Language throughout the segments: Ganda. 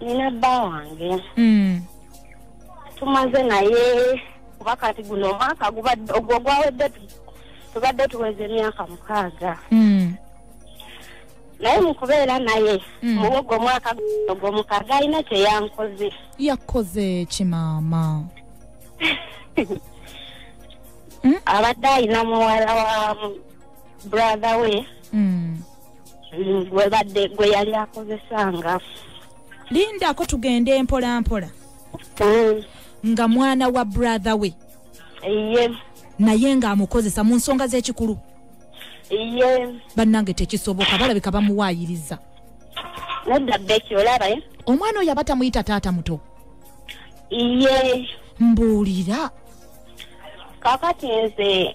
nina bba wange mm. tumaze naye kuba kati guno omwaka gubadde ogwo gwawedde tubadde tuweza emyaka mukaaga mm. naye mukubeera naye mm. muwogo omwaka ogwo mukaaga alina kyeyankoze yakoze kimaama abadde alina muwala wa brother we mm. gwebadde mm, gwe yali akozesanga lindako tugende mpola mpola mm. nga mwana wa brother we iye naye nga amukozesa mu nsonga z'ekikulu iye bannange tekisoboka balabika bamuwaayiriza nedda beki olaba eh? omwana oyo aba tamuyita taata muto iye mbuulira kakati nze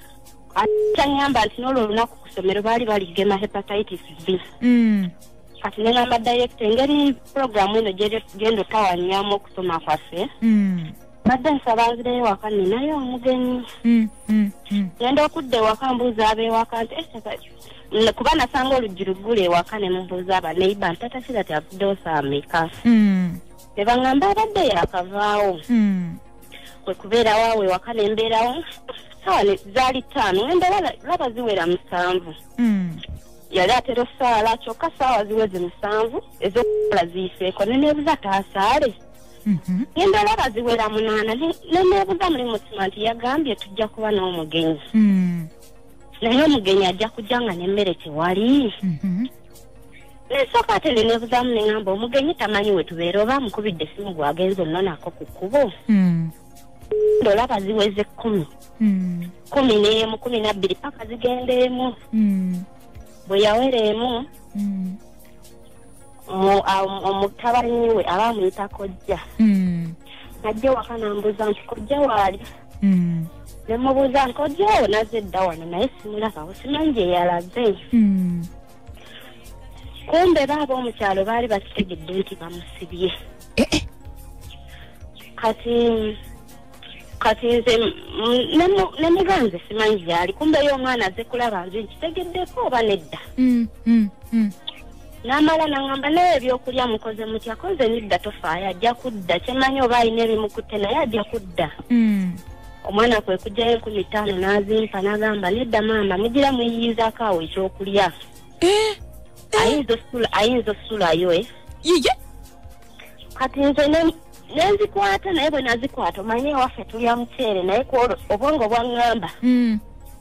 kyanyamba nti n'olwo olunaku ku ssomero baali baligema hepatitis b mm. kati nengamba direkita engeri puroguramu eno genda okutawanyaamu okusoma kwaffe mm. badde nsaba nzireyo waka ninayo omugenyi genda mm, okudda ewaka mbuuza abeewaka nti eh, kuba nasanga oluggi luggula ewaka ne mubuuza abaneiba nti tatakira ti avuddewo saameka ne baŋamba abadde yakavaawo kwe kubeerawo awo ewaka ne mbeerawo sawa zaali ttaano ngenda laba ziwera musanvu hmm. yali atera osaala kyokka saawa ziweze musanvu ezokukola ziyiseeko ne neebuza taasaale mhm. ngenda laba ziwera munaana ne neebuza muli mutima nti yagambye tujja kuba n'omugenyi hmm. naye omugenyi ajja kujja nga n'emmere tewali mhm. nsooka ate nde nebuzamu neŋamba omugenyi tamanyi wetubeera oba amukubidde esimu gwagenza ononako ku kkubo hmm. ndolaba ziweze kkumi hmm. kumi neemu kumi nabbiri paka zigenda emu hmm. bwe yawera emu omutabani we aba amuyita kojja ajja waka nambuuza nti kojja waali mm. ne mubuuza nkojjawo naze dda wano naye simulabawo simanyi gye yalaze mm. kumbe baaba omukyalo baali bakitegedde nti bamusibye eh, eh. kati kati nze ne muganze simanyi gyali kumbe yo omwana aze kulaba nze nkitegeddeko oba nedda mm, mm, mm. n'amala nangamba naye ebyokulya mukoze mutya koze nidda tofaayo ajja kudda kyemanyi oba alina ebimukutte naye ajja kudda hmm. omwana kwe kujjayo enkumi ttaano n'azimpa n'agamba nedda maama mugira muyiyizaako awo ekyokulya eh, eh. ayinza osulayo eh. yiye kati nze nenzikwata naye bwe nazikwata omanye ewaffe tulya muceere naye kwolwo obwongo bwaŋŋamba hmm.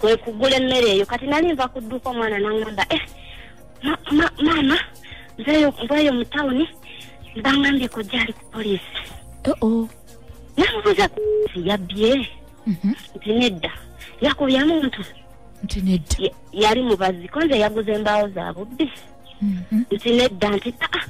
kwe kugula emmere eyo kati nali nva ku dduuka omwana naŋŋamba e eh, maama nzeyo mbweyo mu tawuni bangambye kojja ali ku poliisi oo namubuuza kusi yabbye mhm. nti nedda yakubya muntu nti nedda yali mubazi konze yaguza embaawo za bubbi mhm. nti nedda nti aa ah, ah,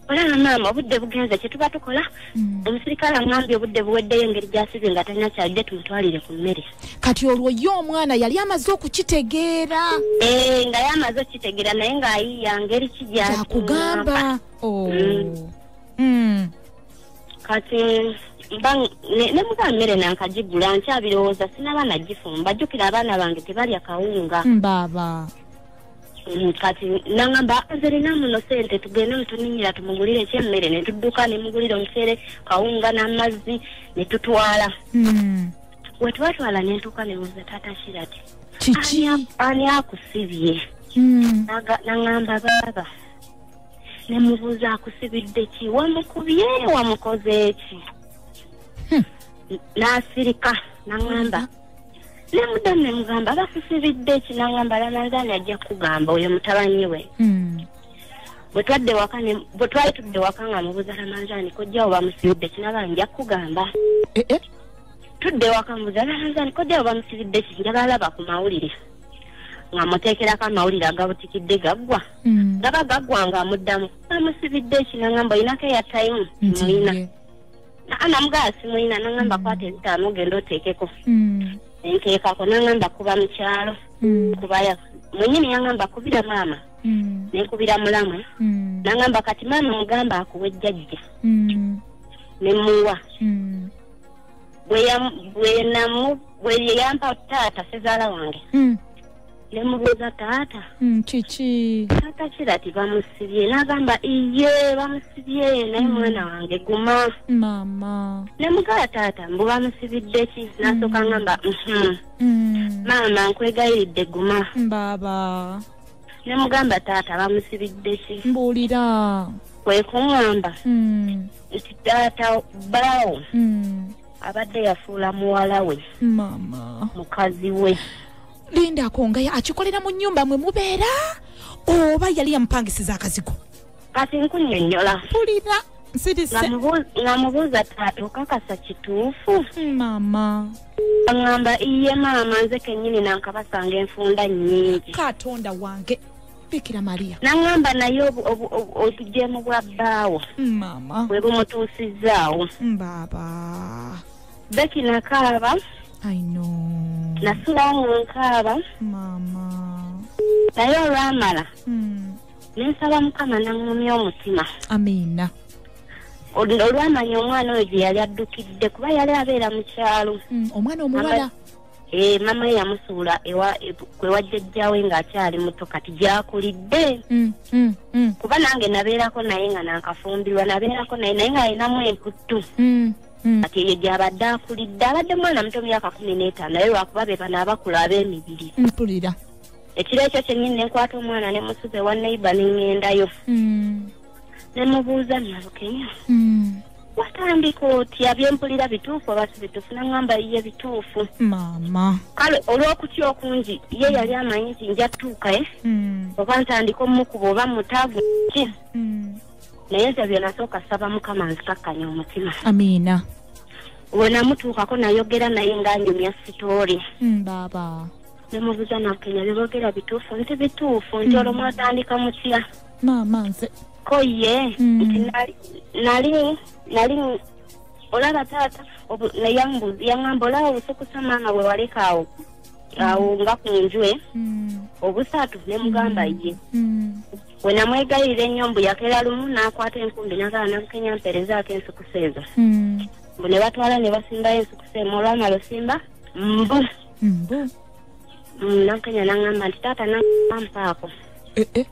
olaba maama obudde bugenze kyetuba tukola hmm. omusirikale aŋambye obudde buweddeyo engeri gyasize nga talina kyalidde tumutwalire ku mmere kati olwo ye omwana yali amaze okukitegeera eh, nga ye amaze okukitegeera naye ng'ayiya ngeri kijakugamba oh. hmm. hmm. kati ne muba mmere nankagigula nkyabirowooza sinaba nagifumba jjukira abaana bange tebalya kawunga mbaaba Mm, kati nangamba nze lina muno sente tugende netuninyira tumugulire ekyemmere netudduka nemugulira omucere kawunga n'amazzi netutwala mm. wetwatwala nentuuka nebuuza taata kirati kiki ani akusibye mm. nangamba baaba nemubuuza akusibidde ki wamukubye wamukoze eki hmm. nasirika nangamba nemuddamu nemugamba basisibidde ekinangamba lamanzaani ajja kukugamba oyo mutabani we hmm. bwetwadde waka bwe twali tudde waka nga mubuuza lamanzaani kojjawo bamusibidde kinaba nja kukugamba eh, eh. tudde waka mubuuza lamanzaani kojjawo bamusibidde ki njaba alaba ku mawulire nga muteekerako amawulire agabutikidde gaggwa hmm. gaba gaggwa nga amuddamu bamusibidde ekinangamba olinako eyatayimu muyina anamugala simulina nangamba kwata ezitaano ogenda oteekeko hmm. nteekako nangamba kuba mu kyalo hmm. kubaya mwenyini yangamba kubira maama hmm. nenkubira mulamu nangamba kati maama mugamba akuwa ejjajja nemuwa bweyampa taata sezaala wange nemubuuza taata hmm, kiki taata kira ti bamusibye nagamba iye bamusibye naye hmm. mwana wange guma mama nemugala taata mbu bamusibidde ki hmm. nasooka ngamba mhm. maama nkwegayiridde guma baba nemugamba taata bamusibidde ki mbuulira kwekuŋamba nti taata baawo abadde yafuula muwala we mukazi we linda akongaya akikolera mu nyumba mwe mubeera oba yali yamupangisiza akazigo kati nkunyonyola fulira ngamubuuza taatuuka kasa kituufu mama aŋamba iye maama nze kenyini nankabasanga enfunda nyingi katonda wange bikira maria naŋamba naye obujeemu bwa bbaawo mama bwe bumutuusizaawo baba beki nakaaba aino nasula nga nkaaba maama naye olwamala hmm. nensaba mukama naŋumya omutima amiina olwamanya omwana oyo gye yali addukidde kuba yali abeera mu kyalo hmm, omwana omuwala eh, mama ye yamusuula kwewajjajjawe ng'akyali muto kati gyakulidde hmm, kuba nange nabeerako naye nga nankafumbirwa nabeerako naye naye ng'alinamu emputtu hmm. kati eyo gyabadde akulidde abadde mwana muto myaka kumi n'etaano naye lwakuba be bano abakulu ab'emibiri mpulira ekiro ekyo kyennyini ne nkwata omwana ne musuza ewa neiba ne ŋŋendayo hmm. ne mubuuza nalukenya hmm. watandika otya byempulira bituufu oba si bituufu naŋamba ye bituufu maama kale olw'okutya okungi ye yali amanyi nti nja tuukae oba ntandika omumukuba oba mutaavu ki naye nze byenasooka saba mukama nzikakkanya omutima amiina wenamutuukako nayogera naye nga nyumya sitoori mm, baaba nemubuza nakenya byebogera bituufu nti bituufu nti mm. olwo mwatandika mutya maama nze ko ye mm. nti nali nali olaba taata yangamba olaba obusukusa maama wewaleka awo awo nga ku njwe obusaatu nemugamba ye we namwegayirira ennyo mbu yakera lumu n'akwata enkumbi n'agala nabukenya mperezaako ensukusa ezo hmm. mbu ne batwala ne basimbayo ensukusa emu olwamala osimba mbu mbu mm, nabukenya nangamba nti taata nampaako eh, eh.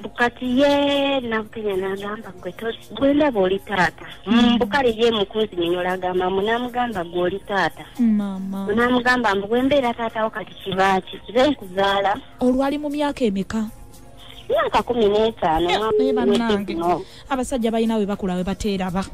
bukati ye nabukenya nagamba gwe gwendaba oli taata hmm. bukale ye mukunzi minyola agamba mbu namugamba gwe oli taata namugamba mbu gwembeera taatawo kati kibaaki kibe nkuzaala olwali mu myaka emeka myaka kumi n'etaano naye bannange abasajja balina we bakula we bateeraba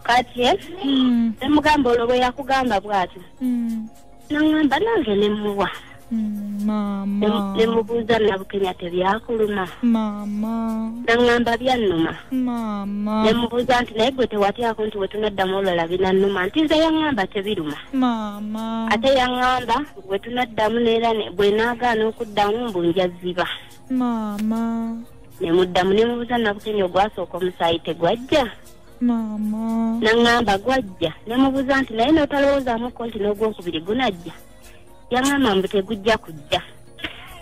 kati eh? hmm. ne mugamba olwo bwe yakugamba bw'atyo hmm. nangamba nange ne muwa mama nemubuuza nabukenya tebyakuluma mama nangamba byannuma mama nemubuuza nti naye gwe tewatyako nti wetunaddamu olwala binannuma nti nze yangamba tebiruma mama ate yangamba bwe tunaddamu neera bwe naagaana okuddamu mbu njaziba maama ne muddamu ne mubuuza nabukenya ogwasooka omusaayi tegwajja maama naŋŋamba gwajja ne mubuuza nti naye n'otalowoozamuko nti n'ogwokubiri gunajja yaŋŋamba mbu tegujja kujja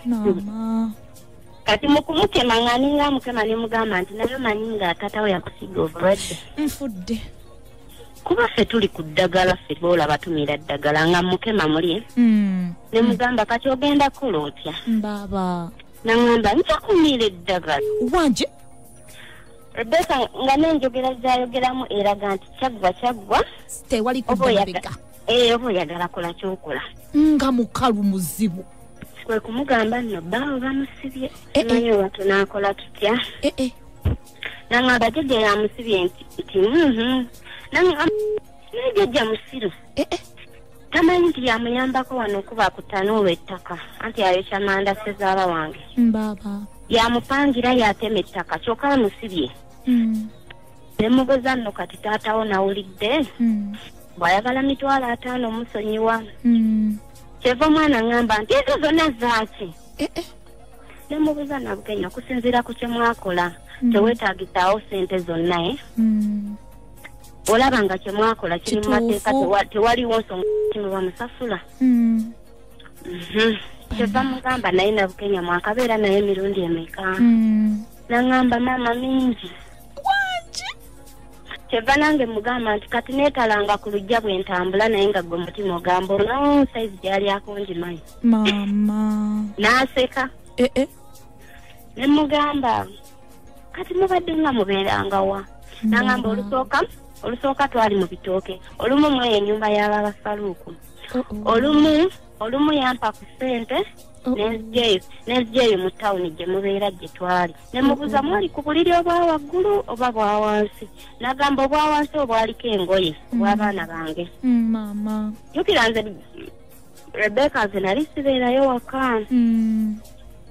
maama kati mukumukema nga ninga mukema nemugamba nti nayo manyi nga tatawo yakusiga obulwadde nfudde kuba ffe tuli ku ddagala ffe boola batumira ddagala nga mukema muli hmm. ne mugamba kati ogenda kola otya baba naŋamba nja kumira eddagala wanje rebeka nga nenjogera zayogeramu eraga nti kyaggwa kyaggwa tewali kubabega ee oba oyagala eh, kola kyokola nga mukalu muzibu kwe kumugamba nno baawe bamusibye eh, eh. naye watu naakola tutya nangamba jajja yamusibye nti nti mhm. nangamba naye jajja musiru eh, eh. tamanyi nti yamuyambako wano okuba kutanuula ettaka anti ayokya manda sezaala wange baba yamupangira yatema ettaka kyoka amusibye hmm. nemugoza nno kati taatawo nawulidde hmm. bwayagala mitwalo ataano omusonyiwa hmm. kyeva omwana ngamba nti ezo zonna zaaki eh, eh. nemubuza nabukenya okusinziira ku kyemwakola mm. tewetagisaawo sente zonna e mm. olaba nga kyemwakola kiri mu mateeka tewaliwo nsonga kimuba musasula mm. mhm. kyeva mugamba naye nabukenya mwakabeera naye emirundi emeka nangamba maama mingi kyeva nange mugamba nti kati neetalanga ku lujja bwe ntambula naye nga gwe mutima ogamba olonwo sayizi gyali akunjimanyi maama n'aseka eh, eh. ne mugamba kati mubadde nga mubeeranga wa nangamba olusooka olusooka twali mu bitooke olumu mu eyo enyumba y'ababasaluuku olumu olumu yampa ku ssente nenzijeyo nenzijeyo mu tawuni gye mubeera gye twali ne mubuuza mwali ku buliri obwa waggulu oba bwa wansi nagamba obwa wansi obwaliko engoye obw'abaana mm. bange mm, maama jukira nze rebeka nze nali sibeerayo waka mm.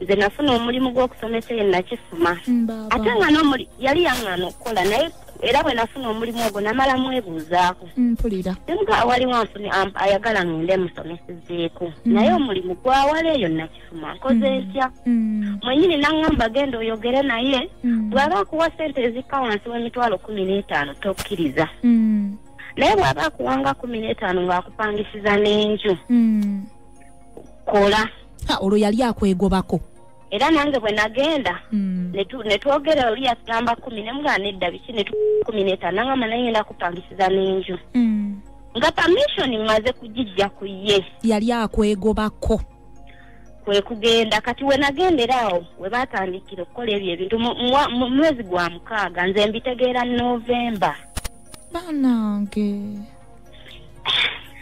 nze nafuna omulimu gw'okusomesa eyo nakifuma mm, ate nga nomuli yali yaŋŋana okukola naye era bwe nafuna omulimu ogwo namala mwebuuzaako mm, mpulira emuga awaliwo anfuni ayagala ngende musomesezeeko naye omulimu gwawala eyo nakifuma nkoze ntya mwenyini naŋŋamba genda oyogere naye bw'aba akuwa sente ezikka wansi w'emitwalo kumi n'etaano tokkiriza naye bwaba akuwanga kumi n'etaano ng'akupangisiza n'enju hmm. kola olwo yali akwegobako era nange bwe nagenda hmm. ne twogera oli yatugamba kumi ne mugana edda biki ne kumi n'etaano nangamba naye ngenda kupangisiza n'enju hmm. nga pamishoni mmaze kugijja ku ye yali akwegobako kwe kugenda kati we nagendera awo we baatandikira okukola ebyo ebintu mu mwezi gwa mukaaga nze mbitegeera novemba banange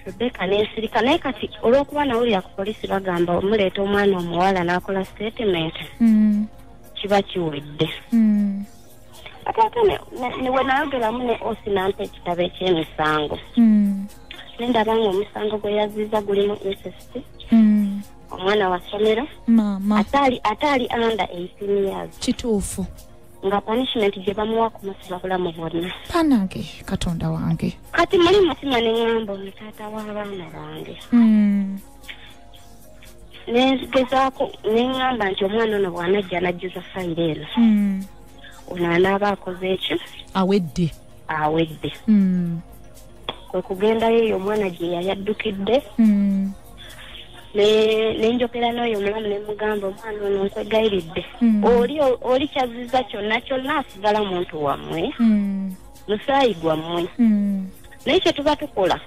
rebeka nensirika naye kati olwokuba nawulira ku polisi bagamba omuleeta omwana omuwala nakola statement mm. kiba kiwedde mm. ate ate wenayogeramu ne osi nampa ekitabo ekyemisango mm. nendaba nga omusango gwe yaziza gulimu insist omwana wa somero ate ali under eighteen years kituufu nga punishment gye bamuwa kumusiba bulamu bwonna banange katonda wange kati muli mutima ne ŋŋamba omutaata w'abaana bange hmm. nengezaako ne ŋŋamba nti omwana ono bw'anajja anajjuza fayiro eno hmm. ono anaaba akoze ekyo awedde awedde hmm. kwe kugendayo eyo omwana gye yayaddukidde nenjogera n'oyo omulamu ne mugamba omwana ono nkwegayiridde hmm. oli oli kyaziza kyonna kyonna asigala muntu wammwe hmm. musaayi gwammwe hmm. naye kye tuba tukola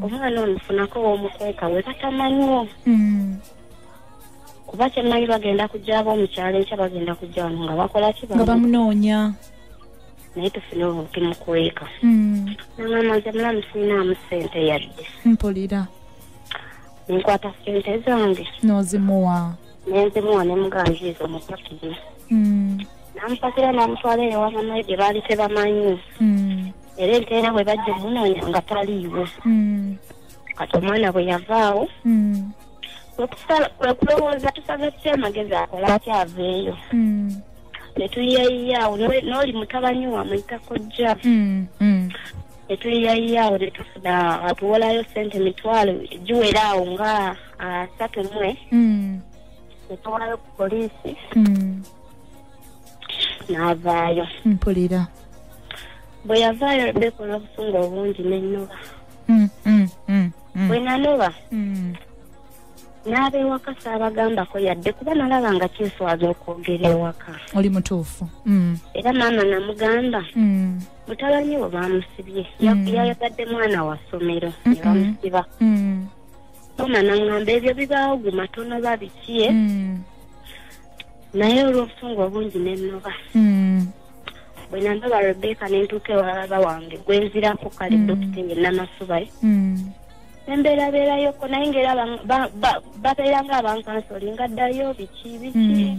omwana ono funako womukweka we batamanyiwo kuba kyemmanyi bagenda kujjaba omukyalo enkya bagenda kujja wano nga bakola kibanga bamunoonya naye tufune obukimukweka namaze mulamu sinamu sente yadde mpulira nkwata sente zange nozimuwa nenzimuwa nemuganjiriza omupakiri mm. namupakira namutwala eyo wamamaye gye baali tebamanyi mm. era enteera bwe bajja omunoonya nga taliiwo mm. kati omwana bwe yavaawo kwekulowooza tusaze ki amagezi akola akyaveeyo netuyiyayiyawo noli mutabani wamwe takojja netuyiyayiya awo netufuna atuwolayo sente mitwalo giwera awo nga asatu mwe mm. netuwolayo ku poliisi mm. n'avaayo mpulira bwe yavaayo rebeka olw'obusungu obungi nennoba mm, mm, mm, bwe nanoba n'aba ewaka saabagambako yadde kuba nalaba nga kyeswaza okwogera ewaka oli mutuufu era maama namugamba mutabani we baamusibye mm. yayagadde mwana wa ssomero ne mm-hmm. bamusiba mm. mama naŋŋamba ebyo bibaawo guma tonoba bikiye eh? mm. naye olw'obusungu obungi nennoba bwe nandoba rebeka ne ntuuka ewalaba wange gwe nzirako kale dokita ye namasubaye nembeerabeerayoko naye ngaera babeera nga abankansolinga ddayo biki biki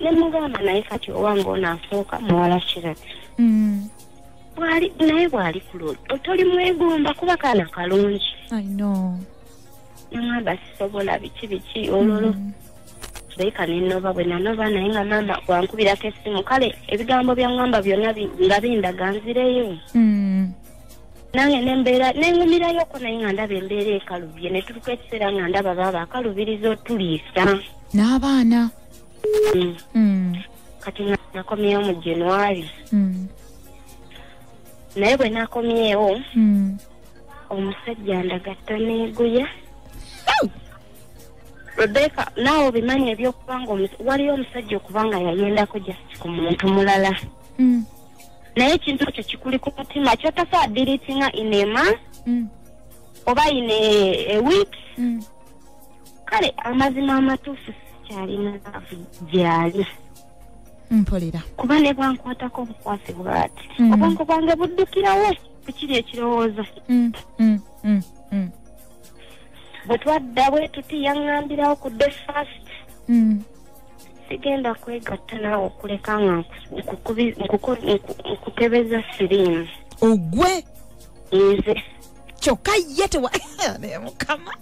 nemugamba naye kati owange ono asooka muwala kirati mm. bwali naye bwali kuloli otoli mwegomba kuba kaana kalungi namwamba sisobola biki biki ololo mm. leka nenoba bwe nanoba naye nga maama wankubirako essimu kale ebigambo byaŋamba byonna nga bindaga nzireyo mm. nange nembeera nengumirayoko naye nga ndaba embeera ekalubye neturuka ekiseera nga ndaba baaba akalubiriza otuliisa n'abaana mm. mm. kati nakomyewo mu january mm. naye bwe nakomyewo mm. omusajja ndagatta neeguya rebeka naawe obimanyi ebyokuba nga waliyo omusajja okuba nga yayendako just ku muntu mulala mm. naye ekintu ekyo kikuli ku mutima kyotasobola diritinga inema mm. oba ine eweek mm. kale amazima amatuufu sikyalina laavu gyali mpulira kuba ne bwankwatako obukwasi bwati mm. obwongo bwange buddukirawo ku kiri ekirowoozo mm, mm, bwe twadda bwe tuti yaŋŋambirawo ku de fast sigenda kwegatta naawe okuleka nga nkukebeza siriimu ogwe nze kyokka ye tewa mukama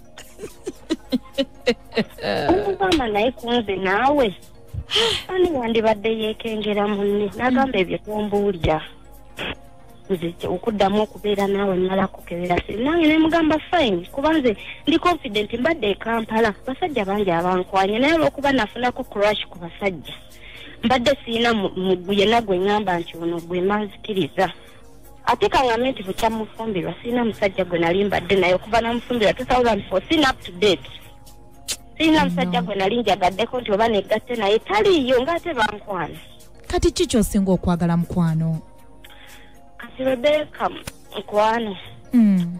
omugamba naye kunze naawe ani wandibadde yeekengera munne nagamba ebyo tombuulira nze okuddamu okubeera naawe mmala kukebera sinange nemugamba fine kuba nze ndi confident mbadde ekampala basajja bangi abankwanye naye olwokuba nafunako crash ku basajja mbadde siina mugu yenna gwe ŋŋamba nti ono gwe manzikiriza ate kangambe nti bukya mufumbirwa sirina musajja gwe nali mbadde naye okuva namufumbirwa 2004 sirina up to date sirina musajja gwe nali njagaddeko nti oba negatte naye taliiyo ngaate bankwana kati ki kyosinga okwagala mukwano kati rebeka mukwano hmm.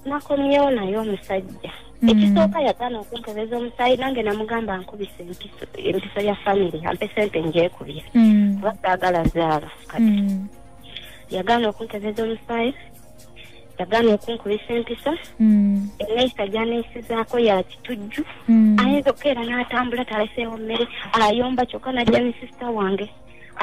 nakomyewo naye omusajja hmm. ekisooka yagana okunkebeza omusaayi nange namugamba nkubisa empiso ya famiry ampe sente njekubya hmm. abasaagala zaaba kati yagaana okuntegeeza omusaayi yagaana okunkubisa empisa hmm. eneyisa gyaneyisizaako ya kitujju hmm. ayinza okukeera n'atambula taleseewo mmere ayomba kyokka najja ne sisita wange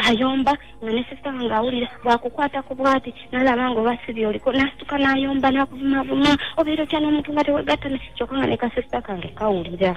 ayomba nga ne sisita wange awulira bwakukwata ku bwati nalaba nga oba sibi oliko nasituka n'ayomba n'akuvumavuma obeera otya n'omuntu nga tewegattane kyokka nga ne kasisita kange kawulira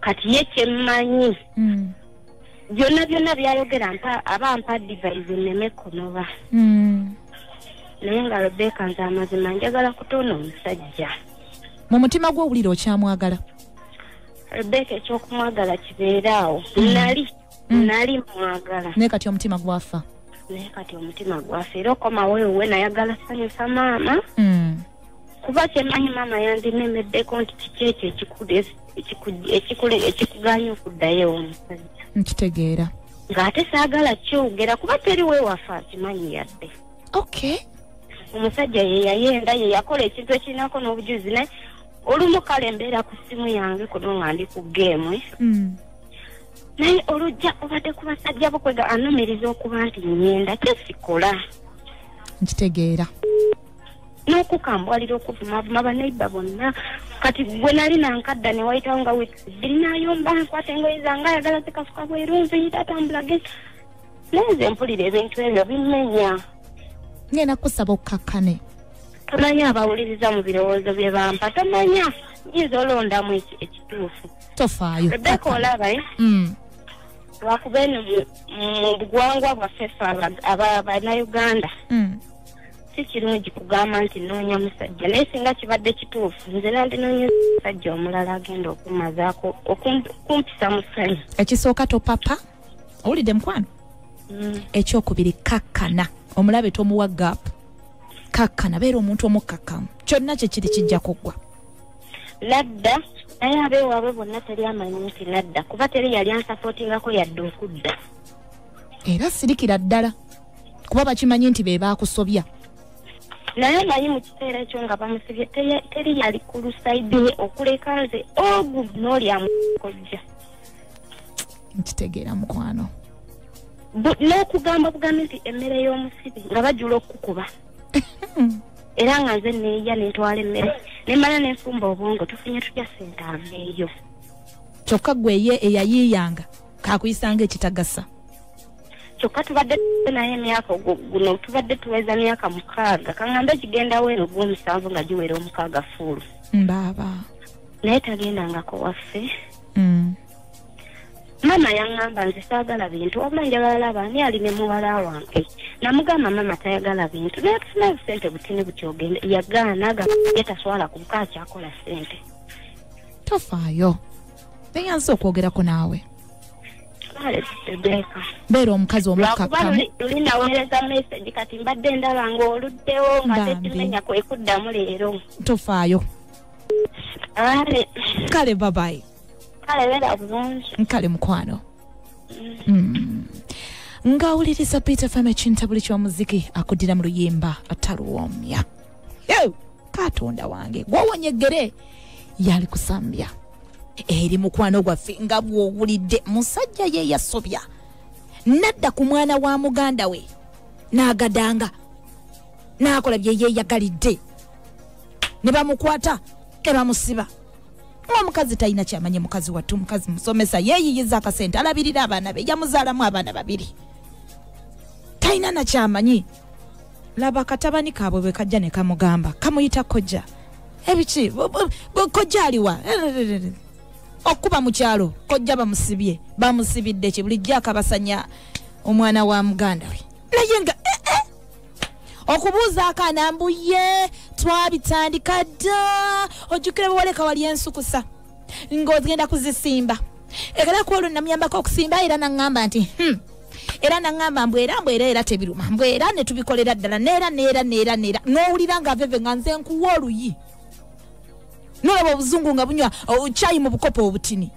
kati ye kyemmanyi mm. byonna byonna byayogera aba mpa divaizi nneme kunoba mm. naye nga rebeka nze amazima njagala kutoona omusajja mu mutima gwe owulira okyamwagala rebeka ekyokumwagala kibeera awo mm. nali nali mwagala naye kati omutima gwafa naye kati omutima gwafa era okomawo ewuwe nayagala sanyusa maama kuba kyemanyi maama yandinemeddeko nti kiki ekyo ekikudesi ekikugaanya okuddayo omusajja nkitegeera ng'ate saagala kyogera kuba teri wewafa akimanyi yadde okay omusajja ye yayenda ye yakola ekintu ekirinako n'obujuzi naye olumu kale mbeera ku ssimu yange kuno nga ndi ku geemu hmm. naye olujja obadde ku basajja bukwega anumiriza okuba nti nyenda kyesikola nkitegeera n'okukambwalira okuvumavuma baneiba bonna kati gwe nali nankadda ne wayitawo nga wikbiri nayomba nkwata engoye zange ayagala zikasuka bweru nziyita atambula genda naye nze mpulira ebintu ebyo bimenya ngenda kusaba okukakkane tomanyi abawuliriza mu birowoozo bye bampa tomanyi nyinza olondamu ekituufu tofaayo rebeka olaba eh? mm. lwakuba eno mu bugwangwa bwaffe fe abanauganda mm. si kirungi kugamba nti noonya musajja naye singa kibadde kituufu nze nandinoonya musajja omulala agenda okumazaako okumpisa musanyu ekisooka topapa owulidde mukwano mm. ekyokubiri kakkana omulabe tomuwa gap kakkana beera omuntu omukkakkamu kyonna kyekiri kijja kuggwa nadda naye abeewaabwe bonna teri amanyi nti nadda kuba teri yali ansapootingako yadde okudda era sirikira ddala kuba bakimanyi nti be baakusobya naye omanyi mu kiseera ekyo nga bamusibye teri yali ku lusaidi ye okuleka nze ogu oh, n'olyamukojja nkitegeera mukwano n'okugamba bugambi nti emmere y'omusibi nga bajula okukukuba era nga nze neeya nentwala emmere nemala nenfumba obwongo tufunye tutya sente aveeyo kyokka gwe ye eyayiiyanga kakuyisanga ekitagasa kyokka tubadde naye emyaka guno tubadde tuweza myaka mukaaga kaŋambe gigendawo eno gwomusanvu nga giwera omukaaga fuulu mbaaba naye tagendangako waffe mm. maama yaŋŋamba nze saagala bintu wabula njagala laba ani ali ne muwala wange namugamba maama tayagala bintu naye tufuna busente butini buti ogende yagaana aga ye taswala kubuka akyakola sente tofaayo beyanza okwogerako naawe beera omukazi omukkakkamuulinaweereza message kati mbadde ndaba ngaoluddewo ngatetimenya kwekuddamu leero tofaayo kale babayi kale beera bulungi nkale mukwano mm. mm. ng'awuliriza peter fam ekintabuli ky'omuziki akuddira mu luyimba ataluwoomya Eh, katonda wange gwowonye eggere yali kusambya eri mukwano gwaffe nga bwowulidde musajja ye yasobya nadda ku mwana wa muganda we n'agadanga n'akola bye yeeyagalidde ne bamukwata ne bamusiba omukazi talina kyamanye mukazi wattu omukazi musomesa yeeyiyiza akasente alabirira abaana be yamuzaalamu abaana babiri talina nakyamanyi laba katabani kaabwe bwe kajja ne kamugamba kamuyita kojja ebiki kojja aliwa okuba mu kyalo kojja bamusibye bamusibidde ki bulijjo akabasanya omwana wa muganda we naye nga eh, eh. okubuuza akaana mbuye twabitandika dda ojjukira bwewaleka wali ensukusa ng'ogenda kuzisimba ekala ku olwo namuyambako okusimba era naŋŋamba nti hmm. era naŋŋamba mbu era mbu era era tebiruma mbu era ne tubikolera ddala neera neera neera neera n'owulira nga veve nga nze nkuwa oluyi nolaba obuzungu nga bunywa kyayi mu bukopo obutini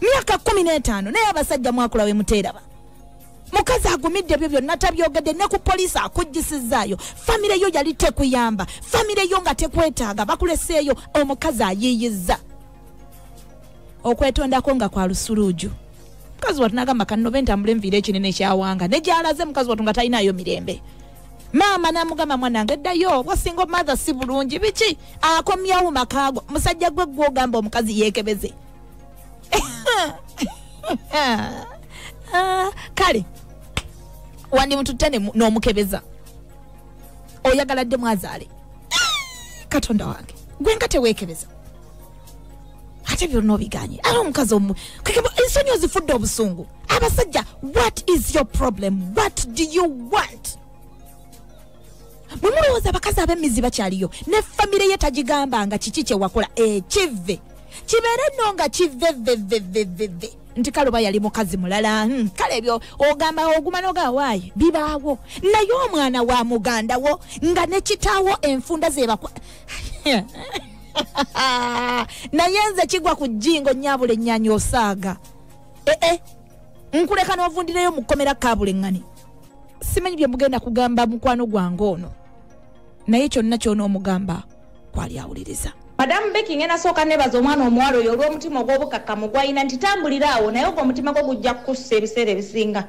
myaka kumi n'etaano naye abasajja mwakula we muteeraba mukazi agumidde ebyo byonna tabyogedde ne ku poliisi akuggisizaayo famire yo yali tekuyamba famire yo nga tekwetaaga bakuleseeyo omukazi ayiiyizza okwetondako nga kwa lusuluuju mukazi watu nagamba kanobe ntambule nviire ekinene ekyawanga ne gyalaze mukazi watu nga talinayo mirembe maama namugamba mwanange ddayo wasinga omathe si bulungi biki akomyawo makaago musajja gwe gwogamba omukazi yekebeze Ah, kale wandimututte ne- n'omukebeza oyagala dde mwazaale katonda wange gwe nga teweekebeza ate byonna obiganye ate omukazi omu kekeba ensonyi ozifudde obusungu abasajja what is your problem what do you want bwe mulowooza abakazi ab'emmizi bakyaliyo ne famire ye tagigamba nga kiki kye wakola ekivve kibeere nno nga kivvevvevvevve nti kale oba yali mukazi mulala hmm, kale ebyo ogamba oguma nogawaayi bibaawo naye omwana wa muganda wo nga ne kitaawo enfunda zebakwa naye nze kigwa ku jjingo nyabula ennyanya osaaga ee eh, eh. nkuleka n'ovundireyo mu kkomera kaabuleng'ani simanyi bye mugenda kugamba mukwano gwange ono naye kyonna kyona omugamba kwali awuliriza madamu beki ngenda sooka nebaza omwana omuwala oyo olw'omutima ogw'obukakkamu gwalina nti tambulira awo naye ogwo omutima gwo gujja kukussa ebiseera ebisinga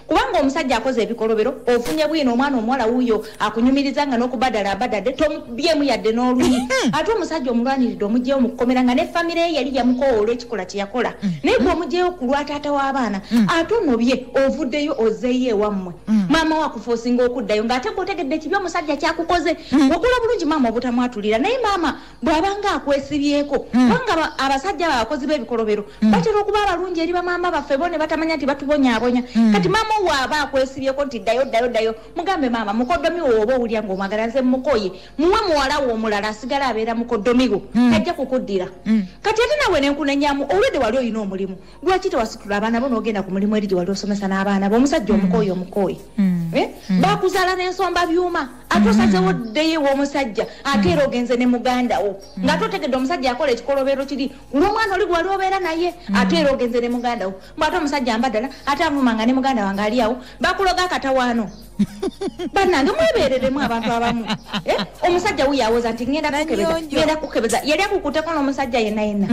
kubanga omusajja akoze ebikolobero ofunye bwino omwana omuwala wuuyo akunyumiriza nga n'okubadala abadade byemu yadde n'oluyi mm-hmm. ate omusajja omulwaniridde omugyewo mu kukomera nga ne famire ye yali yamukoowa olw'ekikola kye yakola mm-hmm. naye gwe omugyewo ku lwa taata w'abaana mm-hmm. ate onobye ovuddeyo ozeeyo ewammwe maama wakufa osinga okuddayo ng'ate gwe otegedde ekibi omusajja kyakukoze wagula bulungi maama obutamwatulira naye maama bw'abanga akwesibyeko kubanga abasajja abo abakozi b'ebikolobero batera okuba abalungi eri bamaama baffe bo ne batamanya nti batubonyabonya kati maama owaaba akwesibyeko nti ddayo ddayo ddayo mugambe maama mukodomi wo oba owulira ngaomwagala nze mukoye muwe muwala wo omulala asigala abeera mukodomiwo mm. tajja kukuddira mm. kati ate nawe nenkunenyamu olwedde wali olina omulimu lwaki tewasitula abaana bo nogenda ku mulimu eri gye wali osomesa n'abaana bo omusajja mm. omukoye omukoye eh? bakuzaala n'ensomba byuma ate osazewo ddeyo ew'omusajja ate era ogenze ne muganda wo ngaate otegedde omusajja akola ekikolobero kiri kulwomwana oli gwewali obeera naye ate era ogenze ne muganda wo mbwate omusajja mbadala ate avuma nga ne muganda wange ali awo bakuloga akatawaano banange mwebereremu abantu abamu eh, omusajja wuyo awoza nti ŋenda kukebeza yali akukuteko n'omusajja yena yena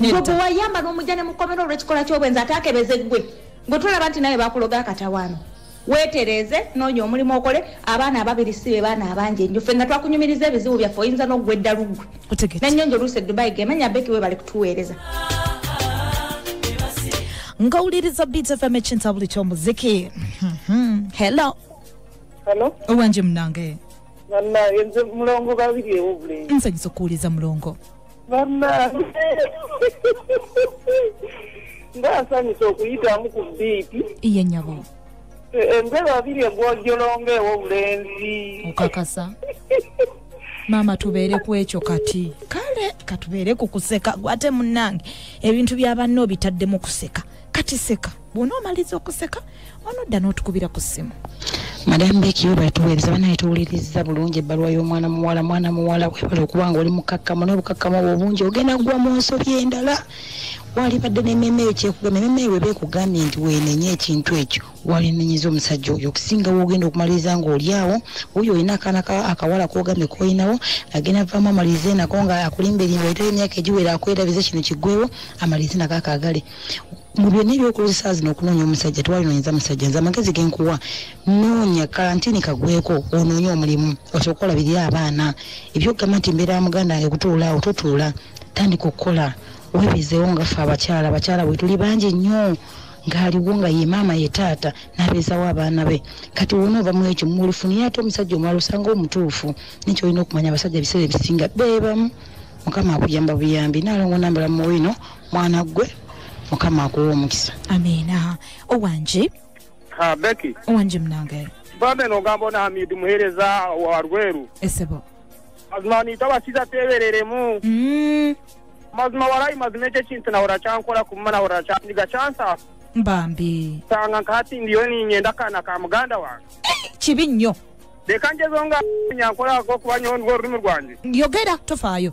gwe wayamba n'omujja ne mukomera olw'ekikola ky'obwenzi ate akebeze gwe gwe tulaba nti naye bakuloga akatawaano wetereeze noonya omulimu okole abaana ababiri si be baana abangi enyo ffe nga twakunyumiriza ebizibu byaffe oyinza n'oggwa eddalu ggwe nennyo njo oluusi edubai gemanya beki we bali kutuweereza ngawuliriza beat fm ekintabuli ky'omuziki mhm. hello owange munange nze mulongo babiri ewo bulenzi nsanyusa okuwuliza mulongo bannange ngaasanyusa okuyitamu ku biipi iye nyabo embeera abiri egwojolonga ewobulenzi okakasa maama tubeere ku ekyo kati kale katubeere ku kuseka gwate munnange ebintu bya banna obitadde mu kuseka kati seka bw'onoomaliza okuseka onodda n'otukubira ku ssimu madamu beeki webale tuweereza banaye tuwuliriza bulungi ebbaluwa y'omwana muwala mwana muwala webale okuba nga oli mukakkamu naye obukakkamu obwo obungi ogenda kugwa mu nsobi endala walibadde nememe eyo kyekugamba ememe eyo weba ekugambye nti wenenye ekintu ekyo walinenyeza omusajja oyo okusinga wogenda okumaliriza nga oli awo oyo olina akaana akawala kogambye kolinawo agenda vamu amaliriza enako nga akulimba erimba etali emyaka egiwera akwerabiza kino kigwewo amaliriza enako akagale mu byonna ebyokozesa zino okunoonya omusajja tewalinoonyeza musajja nze amagezi genkuwa noonya kalantini kagweko onoonye omulimu osobola okukola biri abaana ebyokugamba nti mbeera ya muganda wange kutuula awo totuula tandika okukola webizeewo nga ffe abakyala abakyala bwetuli bangi nnyo ng'aliwo nga ye maama ye taata n'abeezawo abaana be kati wona ova mwekyo mulifunire ate omusajja omwala osanga omutuufu nekyo olina okumanya abasajja ebiseera ebisinga beebamu mukama akuyamba buyambi nalongo nambala muwino mwana gwe mukama akuwa omukisa amiina owange ha beki owange munange babe nogamba ona hamidi muhereza wa rweru esebo mazima nita basiza tebereremu mm. mazima warayi mazima ekyo ekintu nahora kyankora kumuma nahora kyandiga kyansa bambi sanga nkati ndiyo ninyenda kana ka muganda wange eh, kibi nnyo leka njezo nga nyankolako kuba nyo nwo olulimi lwange yogera tofaayo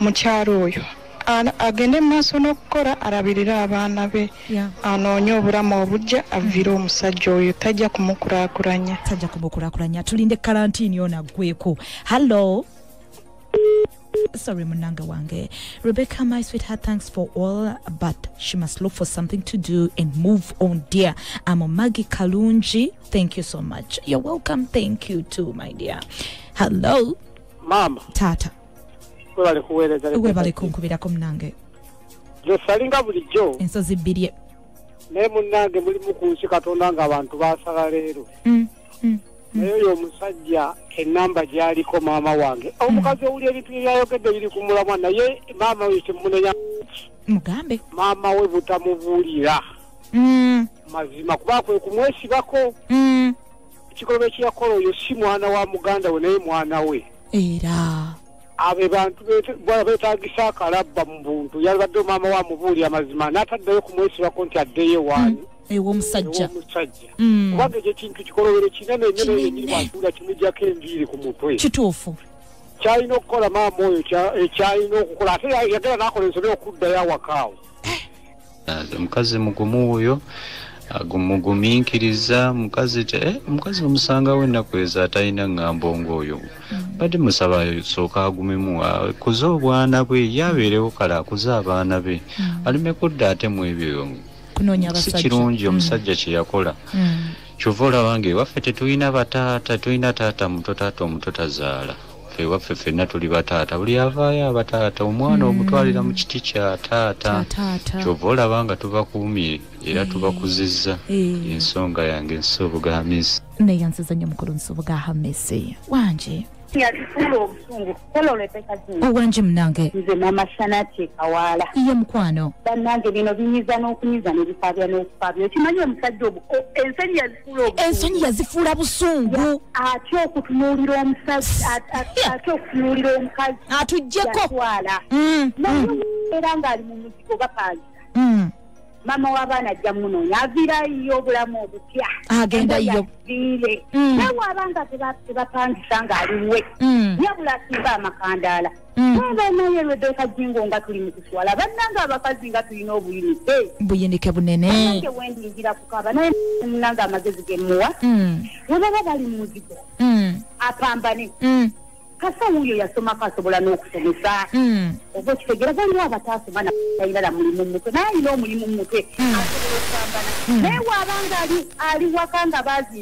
mukyalo oyo agende mu maaso n'okukola alabirire abaana be anoonye obulamu obujja avire mm. omusajja oyo tajja kumukulakulanya tajja kumukulakulanya tulinde kalantiini ono aggweko hallo sorry munanga wange rebecca my sweetheart thanks for all but she must look for something to do and move on dear i'm a maggie kalunji thank you so much you're welcome thank you too my dear hello mama tata webale kuweereza webale kunkubirako munange zesalinga bulijjo ensozi bbirye naye munange mulimu ku nsi katonda nga abantu basala leero mm, mm, mm. naye oyo omusajja enamba gyaliko maama wange omukazi owuli ebintu byeyayogedde biri ku mulamwa naye maama oyo kyemunenya mugambe maama we butamubuulira mazima kuba kwe kumwesibako ekikolobero kyeyakola oyo si mwana wa muganda we naye mwana we era abo bantu betagisa akalabba mu buntu yalibadde omama wa mubuuli amazima n'ataddayo kumwesibako nti addeyo ewaani mm. ewomusajja mm. kubanga ekyo kintu kikolobero kinene nyo neyekiriwatuula kimujjako enviiri ku mutwe kituufu kyalina okukola maama oyo ekyalina eh, okukola ate yagera nakola ensobe okuddayo awakaawo omukazi mugumu wuyo mugumikiriza mukazi te eh, mukazi omusangawo ennaku ezo atalina ŋŋambo ng'oyo mm. bade musaba sooka agumemu akuze obwana bwe ye abeerewo kale akuze abaana be mm. aleme kudda ate mu ebyo si kirungi mm. omusajja kye yakola kyova olaba nga ewaffe tetulina bataata tulina taata muto taata omuto tazaala ewaffe fenna tuli bataata buli avaayo abataata omwana mm. omutwalira mu kiti kya taata kyova olaba nga tubakuumye era eh. tubakuzizza eh. ensonga yange ensi obuga hamisi naye nsiza nnyo mukulu nsi obuga hamisi wanje owange munange nze mama shanati kawaala iye mukwano banange bino binyiza n'okunyiza nebifaabya n'okufaabya okimanyi omusajja ensenyi ensonyi yazifuula busungu ate okutunuulira omusazi ate okutunuulira omukazi atujjeko mm, mm. era ng'ali mu muzigo bapaaza mm. maama w'abaana ajja munoonya avirayo obulamu obupya agendayo nawe abanga tebapangisa ng'aliwe yabula asimba amakandaala Mm. Baba naye Rebecca Jingo nga tuli mukuswala bannanga abakazi nga tulina obuyinike buyinike bunene nange wendingira kukaba naye munanga amagezi gemuwa mm. webaba bali mumuzigo mm. apambane kasa wuyo yasomako asobola n'okusomesa oba okitegera baliwo abataasoma natalina la mulimu mumutwe naye alina omulimu mumutwe asobola okupambana naye waabanga ali waka nga bazi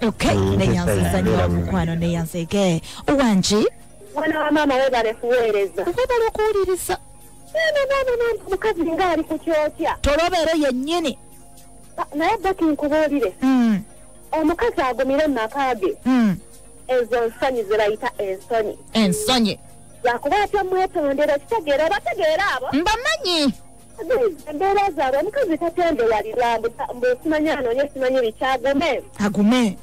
Okay, mm, neyanziza nyo mukwano neyanzege owangi mwana wa maama webale kuweereza webale okuwuliriza mukazi nga ali ku kyokya tolobeero yennyini naye baki nkubuulire mm. omukazi agumire mu maka ge mm. ezo nsonyi ze bayita ensonyi ensonyi lwakuba atya mwetondera kitegeera obategeera abo mbamanyi embeera zaabwe omukazi tatendera lirambu mbu simanyi anoonye simanyi biki agume agume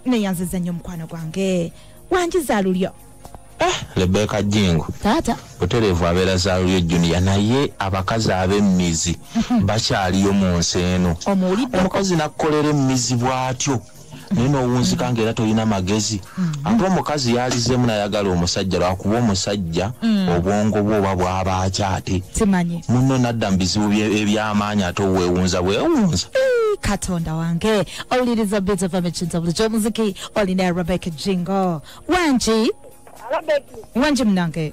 neyanziza nnyo omukwano gwange wanjiza lulyo eh, lebeka jingo taata butereevu abeera za lulyo juniya naye abakazi ab'emmizi bakyaliyo mu nsi eno omukazi nakukolera emmizi bw'atyo naye nowunzika nga era tolina magezi mm. ate omukazi yalizemu nayagala omusajja lwakuba omusajja mm. obwongo bwe oba bwaba akyate muno nadda mu bizibu ebyamaanyi ate owewunza bwewunza katonda wange owuliriza biza vamicinza bulijo omuziki olina rebeka jingo wangi wangi munange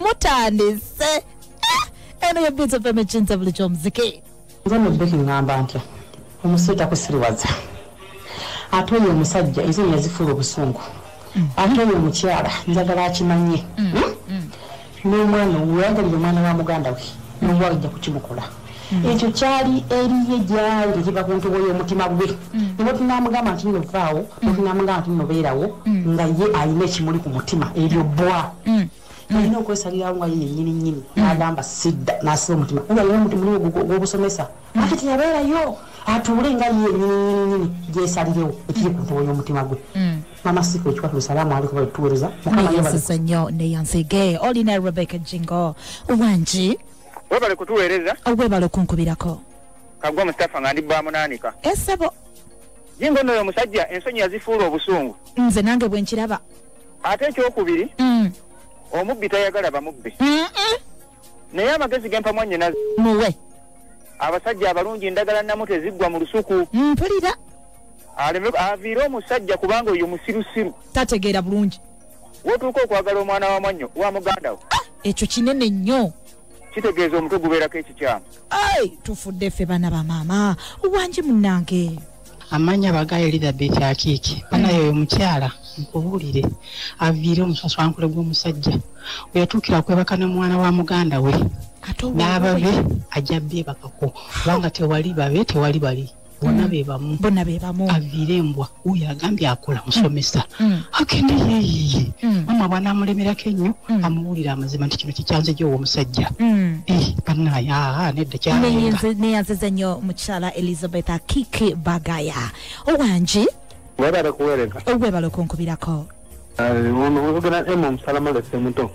mutandise eh, eno yebinza fm ekinza buli kyomuziki nze mubeki ngamba ntya omusiru takusiriwaza ate oyo omusajja ezo yazifuula obusungu mm. ate oyo omukyala njagala akimanye mm. hmm? n'omwana owo weyagalira omwana wa muganda we n'omuwala ojja kukimukola hmm. ekyo kyali eriye gyali tekiva ku ntobo y'omutima gwe hmm. nibwe tunamugamba nti nno vaawo hmm. tunamugamba nti nno beerawo nga ye alina ekimuli ku mutima eryo bwa alina okwesalirawo nga ye yenyini nyini nagamba sidda nasiba omutima nga yina omutima oli gw'obusomesa ate teyabeerayo atuule nga ye yenyini nyini nyini gyesalirewo ekiri ku ntobo y'omutima gwe Mama Siko chwa tusalamu aliko bali tuweleza. Mukama yebale. Yesu sanyo ne yansege. Oli na Rebecca Jingo. Uwanji. Webale kutuweleza. Webale kunkubirako. Kagwa Mustafa ngandi ba munanika. Esebo. Eh, Jingo no yomusajja ensonyi yazifuru obusungu. Nze nange bwenkiraba. Ate ekyokubiri. Mm. Omubbi tayagala bamubbi. Mm -mm. naye amagezi gempa mwanyina muwe abasajja abalungi ndagala namu teziggwa mu lusuku mpulira aviire omusajja kubanga oyo musirusiru tategeera bulungi wotuuka okwagala omwana wa mwannyo wa muganda wo ah, ekyo kinene nnyo kitegeeza omutwe gubeerako ekikyamu ai tufudde ffe baana ba maama wangi munnange amanya baga elizabeth akiiki banaye oyo mukyala nkubuulire aviire omusaswankule gw'omusajja weyatuukira okwebaka ne mwana wa muganda we n'ababe ajja beebakako kubanga tewali babe tewali bali bona mm. bebamu bona bebamu aviire embwa oyo agambye akola mm. musomesa mm. agende yeyiye mama bwana amulemerako ennyo amuwulira amazima nti kino kikyanze gyowo omusajja eh, banaye nedda kyaneyanziza nnyo mukyala elizabeth akiki bagaya owangi webale kuwereza webale okunkubirako muvugana emu omusala malese muto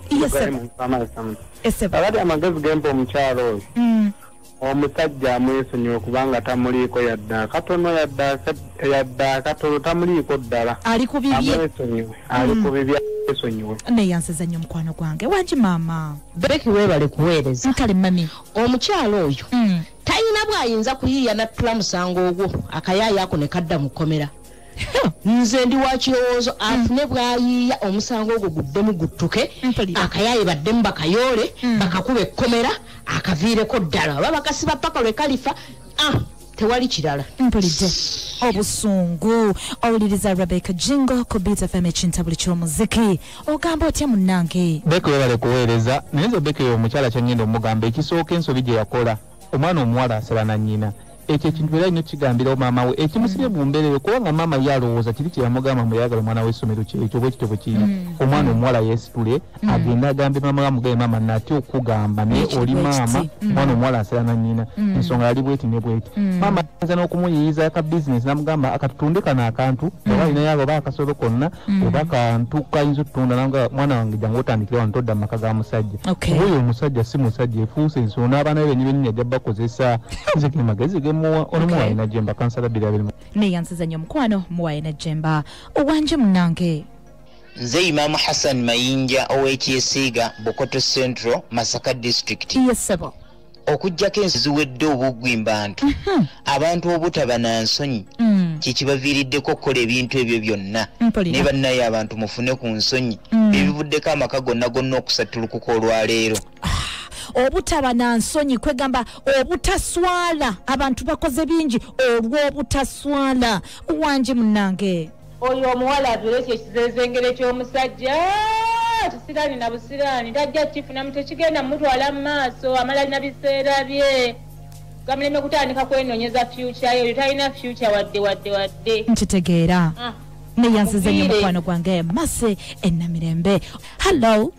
abali amagezi gempa omukyalo oyo mm. omusajja amwesonyiwe kubanga tamuliiko yadde akatono yadde akatono tamuliiko ddala ali ku bibye amwesonyiwe ali ku mm. bibye esonyiwe naye yansiza nnyo mukwano gwange wangi maama beki weebale kuweereza nkale mami omukyalo oyo mm. tayina bwayinza kuyiiya nattula musango ogwo akayaayo ako ne kadda mu kkomera nze ndi wa kirowoozo afune mm. bwayiiya omusango ogwo guddemu guttuke akayaaye baddemu bakayoole mm. bakakuba ekkomera akaviireko ddala oba bakasiba paka lwe kalifa ah, tewali kirala mpulidde obusungu owuliriza rebecca jingo ku beat fm ekintabuli ky'omuziki ogamba otya munnange beko yebale kuweereza naye nze beko eyo omukyala kyangenda omugamba ekisooka ensobi gye yakola omwana omuwala asala na nnyina ekyo ekintu era alina okukigambirawo maama we ekimusibye mu mbeera eyo kubanga maama ye alowooza kiri kye yamugamba mbu yayagala omwana w'essomero kyekyo bwe kityo bwe kiri mm. omwana mm. omuwala yeesitule mm. agende agambe maama we amugabe maama natya okukugamba naye oli maama omwana omuwala asala na nnyina ensonga yali bweti ne bweti maama ayinza n'okumuyiyiza ka bizinesi namugamba akatutunde kano akantu mm. oba alinayo abo oba akasolo konna mm. oba kantu kayinza otutunda nanga mwana wange jangu otandikire wano todda mumaka ga musajja oyo omusajja si musajja efuuse ensolo n'abaana be benyi benyinya ajja bakozesa nze ge magezi gemuwa onomuwaye najemba kansala biri abirimu neyansiza nyo omukwano muwaye najemba owanje munange nze imamu hassan mayinja ow'ekyesiiga bukoto central masaka district yes, okujjako ensi ziwedde obuggwi mbantu mhm. abantu obutaba na nsonyi mm. kyekibaviiriddeko okukola ebintu ebyo byonna ne bannaye abantu mufune ku nsonyi mm. ebivuddeko amaka gonna gonna okusattulukuka olwaleero ah. obutaba na nsonyi kwegamba obutaswala abantu bakoze bingi olw'obutaswala wangi munange Oyo omuwala avire ekyo ekizezengere kyomusajja kisiraani na busiraani tajja kifunamu tekigenda mumutwala mumaaso amala lina biseera bye gamuleme kutandika kwenonyeza future yo oyo talina future wadde wadde wadde nkitegeera ah. neyansize nyo mukwano gwange mase enamirembe hallo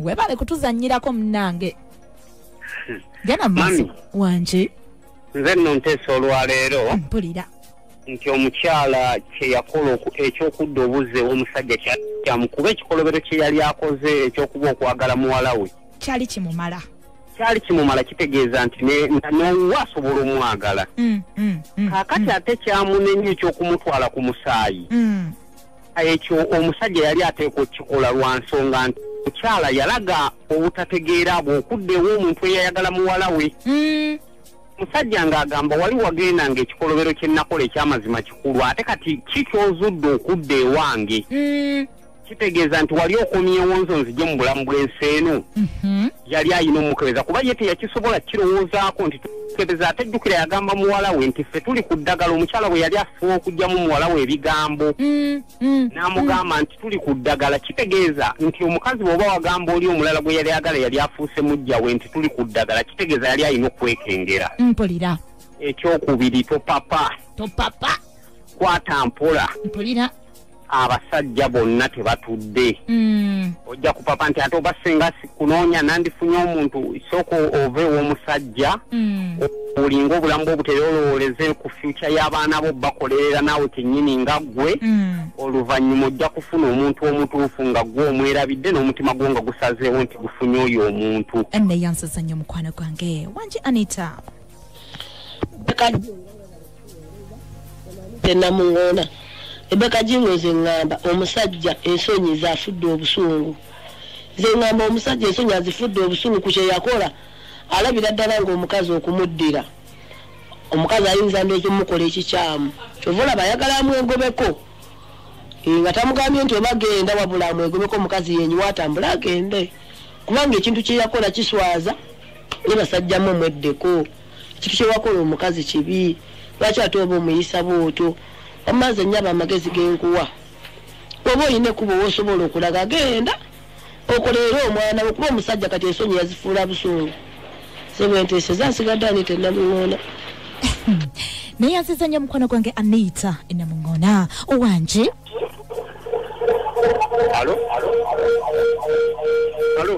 webale kutuzanyirako munange genda mu maaso Mami. wanje nze nno nteesa olwaleero mpulira nti omukyala kyeyakola oku- ekyokudda obuzzi ew'omusajja kya- kyamukuba ekikolobero kye yali akoze ekyokuba okwagala muwala we kyali kimumala kyali kimumala kitegeeza nti ne- na- n'owa asobola omwagala Mm, mm, mm, kakati ate kyamunenya ekyokumutwala ku musaayi mm. ekyo omusajja yali ateekwa okukikola lwa nsonga nti mukyala yalaga obutategeera bwe okudda ewa omuntu eyayagala muwala we hmm. musajja ng'agamba wali wagenda ng'ekikolobero kye nnakola ekyamazima kikulu ate kati ki kyozudde okudda ewange hmm. kitegeeza nti wali okomyewo nzo nzije mu bulamu bw'ensi eno mhm. yali ayina omukebeza kuba ye teyakisobola kirowoozaako nti tukebeza ate jjukira yagamba muwala we nti ffe tuli ku ddagala omukyala bwe yali asobola okugyamu muwala we ebigambo mm, mm, n'amugamba mm. nti tuli ku ddagala kitegeeza nti omukazi bweoba wagamba oli omulala gwe yali agala yali afuuse mujja we nti tuli ku ddagala kitegeeza yali alina okwekengera mpulira ekyokubiri topapa topapa kwata mpola mpulira abasajja bonna tebatudde mm. ojja kupapa nti ate oba singa kunoonya nandifunye omuntu sooka ova ew'omusajja mm. olinga obulamu bwe obuteyoolowooleze ku fyuca y'abaana bo bakolerera naawe kennyini nga ggwe mm. oluvannyuma ojja kufuna omuntu omutuufu nga ggwe omwerabidde n'omutima gwo nga gusazeewo nti gufunye oyo omuntu naye ansaza nnyo omukwano gwange wangi anita tenamuŋoona ebeka jingo nze ŋŋamba omusajja ensonyi zafudde obusungu nze ŋŋamba omusajja ensonyi azifudde obusungu ku kyeyakola alabira ddala ngaomukazi okumuddira omukazi ayinza ndoozi omukola ekikyamu kyova olaba ayagala amwegobeko eh, nga tamugambye nti oba genda wabula amwegobeko omukazi yenyi watambula agende kubanga ekintu kyeyakola kiswaza ne basajjamu omweddeko Kiki kyewakola omukazi kibi lwaki ate oba omuyisa bwotyo wamma nze nyaba amagezi genkuwa oba olina ekkubo wosobola okulaga genda okoleere omwana okuba omusajja kati ensonyi yazifuula busungu sebwenteeseza nsigadde anita enamuŋoona naye aziza nyo omukwano gwange anita enamuŋoona owange Alo? Alo? Alo?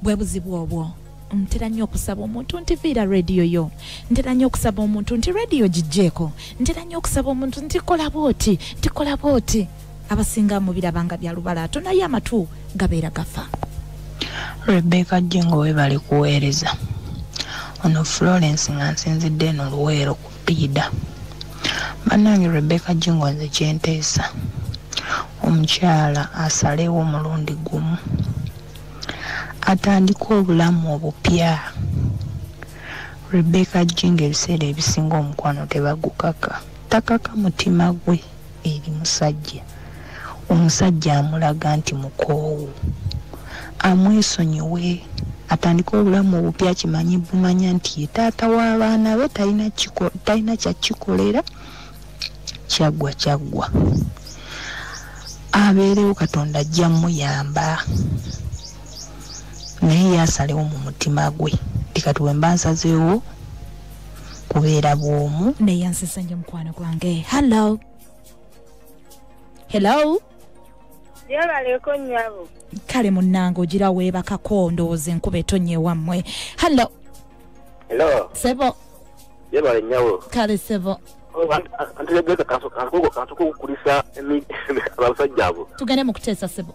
bwe buzibu obwo ntera nnyo okusaba omuntu nti viira rediyo yo ntera nnyo okusaba omuntu nti rediyo gijjeeko ntera nnyo okusaba omuntu nti kola bwoti nti kola bwoti abasinga mubiraba nga bya lubalaato naye amatu gabeera gafa rebeka jingo webali kuweereza ono florence nga nsinzidde eno luweero ku piida bannange rebeka jingo nze kyenteesa omukyala asalewo omulundi gumu atandika obulamu obupya rebeka jingo ebiseera ebisinga omukwano tebagukaka takaka mutima gwe eri musajja omusajja amulaga nti mukoowu amwesonyiwe atandike obulamu obupya kimanyi bumanya nti ye taata w'abaana be talina kyakikolera kyaggwa kyaggwa abeerewo katonda ajja muyamba naye yasalewo mu mutima gwe tikati wemba nsazeewo kubeera bwomu naye ansesa nyo mukwano gwange hallo hello yebaleko nyabo kale munange ogira weebakako ndowooza enkuba etonnya ewammwe hallo hello sebo yebale nyabo kale sebo antulegeza kantu kukulisa abasajja abo tugende mu kuteesa sebo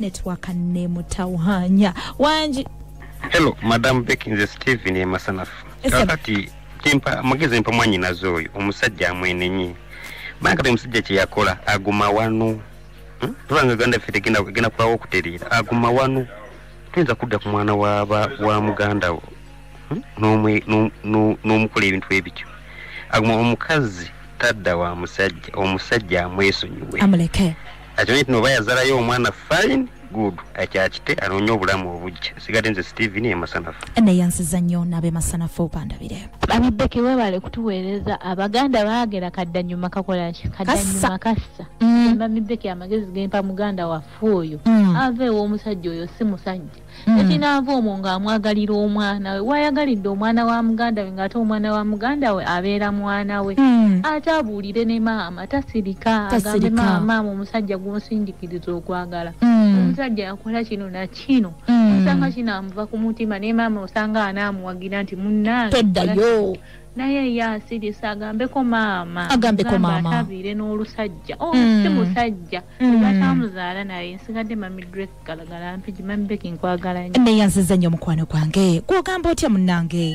network nemutawanya wangi hello madam beck nze steven emasanafu kakati kimpa amagezi mpa mwanyinaze oyo omusajja amwenenye banga kati omusajja kyeyakola aguma wanu hmm? tubanga uganda ffe tegenda kulawo okutereera aguma wanu tuyinza kudda ku mwana wa muganda wo n'omukola ebintu ebityo aguma omukazi tadda wa musajja omusajja amwesonyiwe amuleke akimanye tino oba yazalayo omwana fine good akyakite anoonya obulamu obujja sigadde nze steven emasanafu neyansiza nnyo naabe masanafu bandabire abibeke webale kutuweereza abaganda baagera kaddanyuma kakolaki kaddanyuma kassa mm. mami beke amagezi gempa muganda waffe oyo mm. ave ew'omusajja oyo si musajja mm. ati naava omwo ng'amwagalira omwana we wayagalidde omwana wa muganda we ng'ate omwana wa muganda we abeera mwana we mm. ate abuulire ne maama tasirika agambe maama maama omusajja gwonsindikiriza okwagala mm. omusajja yakola kino na kino mm. osanga kinamuva ku mutima naye maama osanga anaamuwagira nti munnange toddayo naye ye asirisa agambeko maama agambeko maama atabire n'olusajja oh, mm. si musajja mm. batamuzaala naye nsigadde mami dress galagala mpigi mami beki nkwagala nnyo neyanziza nnyo omukwano gwange gwogamba otya munnange